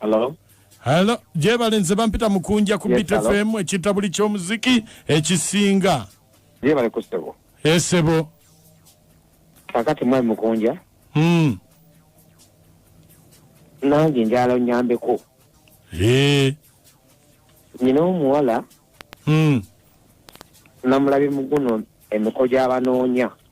Hello? Hello, jebale nze bampita mukunja ku yes, Beat FM ekita buli ky'omuziki ekisinga. Jebale ku sebo. Esebo. Eh, Kakati mwe mukunja. Mm. Nange njala onyambeko. Eh. Nina omuwala. Mm. Namulabi muguno emiko gy'abanoonya.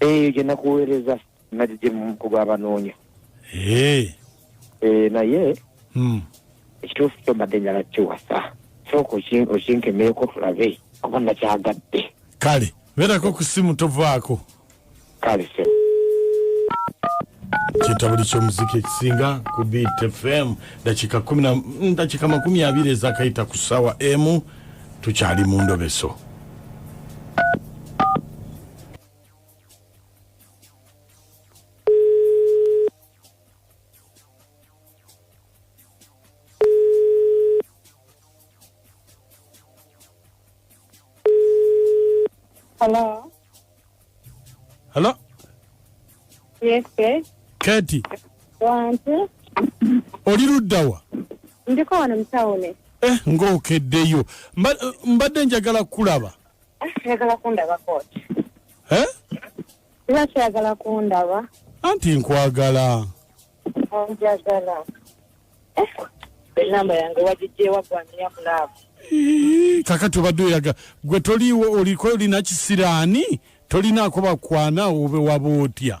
eyo gye nakuweereza nagigyemu ku gwabanoonya Eh, Eh, naye mm. ekituufu kyo mbadde njala kiwasa sooka oki- okinkemeeko tulabe kuba nakyagadde kale beerako ku simu tovaako kale se kitabuli kyomuziki ekisinga ku beat fm dakika kumi na- mm, dakika makumi abiri ezakayita ku ssaawa emu tukyali mu ndobeso Hello. Hello? Yes, sir. Katie. Wantu. Oli ludda wa? Ndiko wano mu tawuni. Eh, ng'okeddeyo. Mbadde njagala kulaba. ayagala kundaba kooti eh? lwaki ayagala kundaba anti nkwagala onjagala eh? enamba yange wagijjewa gwaniya mulaavu kakati obadde oyaga gwe toliiwo oliko olina kisiraani tolinaako bakwana obe waba otya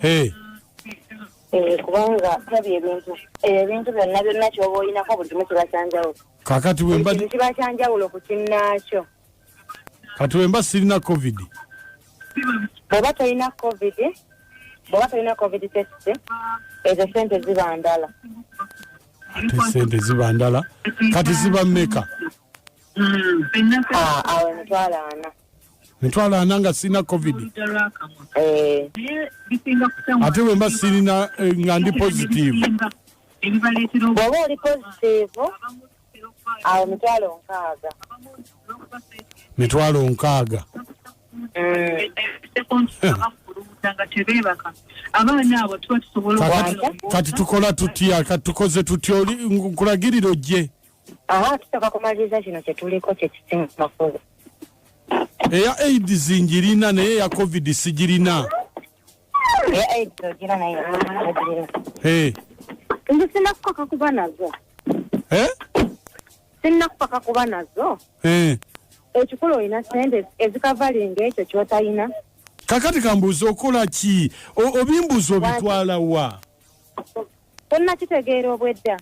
hey. Eh, kubanga tabi ebintu eh, ebintu byonna byonna kyoba olinako buli kimu kiba kyanjawulo kakati wembakintu kiba kyanjawulo ku kinnaakyo kati wemba sirina covid bweba tolina covid bweba tolina covid test ezo sente ziba ndala ate sente ziba ndala kati ziba meka hmm, ah, awo emitwalo ana mitwalo ana nga sirina covid eh. ate wemba sirina eh, nga ndi positive bwoba oli positive awo mitwalo nkaaga mitwalo nkaaga eh. kati tukola tutya kati tukoze tutya nkulagirira ojje aha tusooka kumaliriza kino kye tuliko kye kisinga makulu eya aids ngirina naye eya covid sigirina eya aids ogira naye eh. nze sina kupaka kuba nazo eh? sina kupaka kuba nazo eh. ekikulu olina sente ezikavalinga ekyo kyotalina kakati kambuuza okola ki obimbuuza obitwala wa tonakitegeera obwedda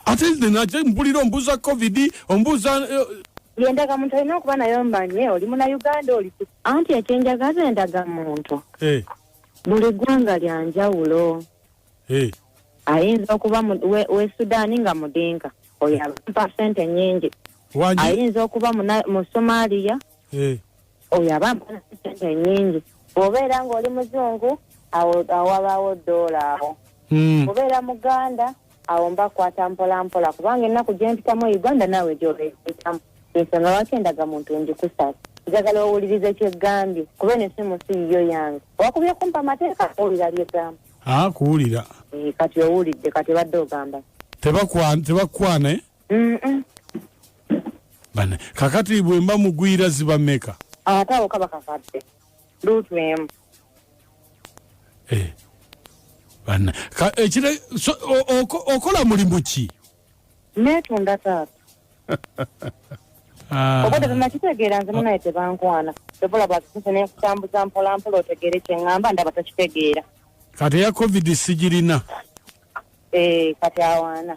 ate nate mpulira ombuuza covid ombuuza eh, yendagamuntu olina okuba naye omanye oli muna uganda oli anti ekyenjagaza endagamuntu eh. buli ggwanga lya njawulo eh. ayinza okuba we sudaani nga mudinka oyo abampa sente nyingi ayinza okuba mu somaliya eh. oyo aba mpona sente nyingi obeera ngaoli muzungu awabawo doola awo hmm. obeera muganda awo mba kwata mpola mpola kubanga ennaku gyempitamu uganda naawe gyobeetamu ensonga lwaki endaga muntu ngikusasa njagala owuliriza ekyegambye kuba eno esimu si yiyo yange wakubye kumpa amateeka kuwulira byegamba ah, kuwulira eh, kati owulidde kati badde ogamba tebakwana eh? bana kakati bwe mba mugwira ziba meka ate awo kaba kakadde luutu emu eh, bana ekire eh, okola mulimu ki netunda taata ah. obadde bwemakitegeera nze munaye tebankwana ebola bwakisuse nekutambuza mpolampola otegeere kyeŋŋamba ndaba takitegeera kati eya covid sigirina eh, kati awaana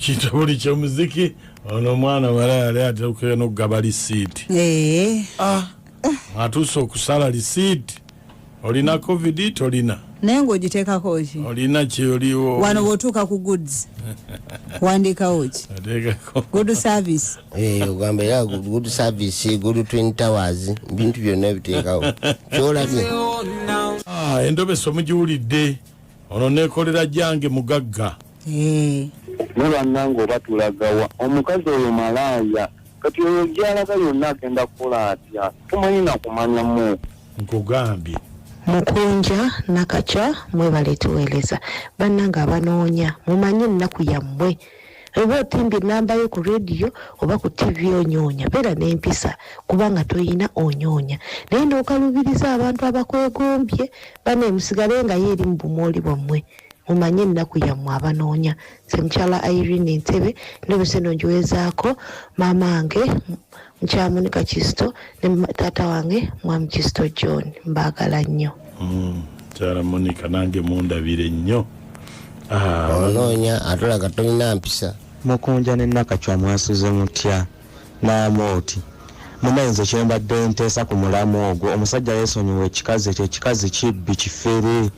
kituli kyomuziki ono omwana wala yali atekera nokugaba lisiiti eh. ah, atuuse okusala lisiiti olina covid tolina naye ngaogitekako ki olina kyoliwo wano bwotuuka ku goods wandikawo ki good service eh, ogamba era good service good twin towers bintu byonna ebiteekawo kyolabye ah, endobesa omugiwulidde ono nekolera jange mugagga eh. ne bannange oba tulagawa omukazi oyo malaaya kati oyo gyalaga yonna agenda kukola atya tumanyi nakumanyamu nkugambye mukunja nakakya mwebale tuweereza bannange abanoonya mumanye ennaku yammwe oba otimbye enamba yo ku radio oba ku tv onyonya beera nempisa kubanga toyina onyonya naye nokalubiriza abantu abakwegombye bane musigale nga ye eri mu bumooli bwammwe mumanye ennaku yammwe abanoonya semukyala irene entebe ndobese nongiwezaako maama nge Mukyala Monica Kizito ne taata wange Mwami Kizito John mbaagala nnyo. Mm, mukyala Monica nange mundabire nnyo. Ah. Onoonya atulaga tolina mpisa. Mukunja ne Nakacwa mwasuze mutya n'amooti. Mumenze kyembadde nteesa ku mulamu ogwo omusajja yeesonyiwa ekikazi ekyo ekikazi kibbi kifere.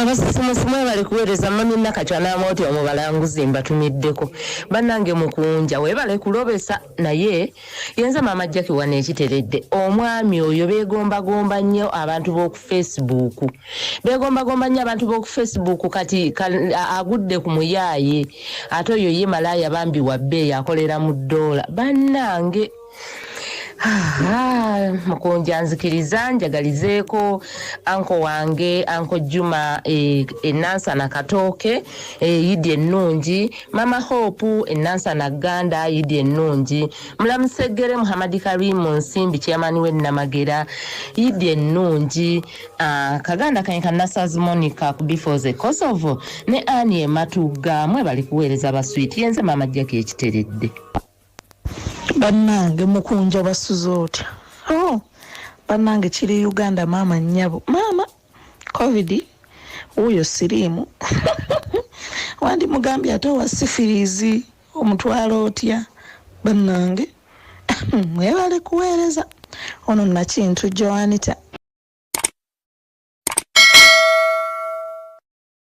abasisimusi mwebale kuweereza mami nakatya n'amawoti omu balanguzi mbatumiddeko bannange mukunja weebale kulobesa naye yenze maama jaki wano ekiteredde omwami oyo beegombagomba nnyo abantu b'oku facebook beegombagomba nnyo abantu b'oku facebook kati agudde ku muyaaye ate oyo ye malaaya bambi wabbeeyo akolera mu ddoola bannange Aha, mukunja nzikiriza njagalizeeko anko wange anko juma eh, enansana katooke eh, yidi ennungi mama hope enansana ganda yidi ennungi mulamuseggere muhamadi karimu nsimbi kyeyamani wennamagera yidi ennungi ah, kaganda kanye kanasazi monica ku bifoze kosovo ne ani ematugga mwe bali kuweereza baswiiti yenze maama jjaki ekiteredde bannange mukunja basuze otya oh, bannange kiri uganda maama nnyabo maama covid wuuyo siriimu wandi mugambye ate owa sifirizi omutwalo otya bannange mwebale kuweereza ono nakintu joanita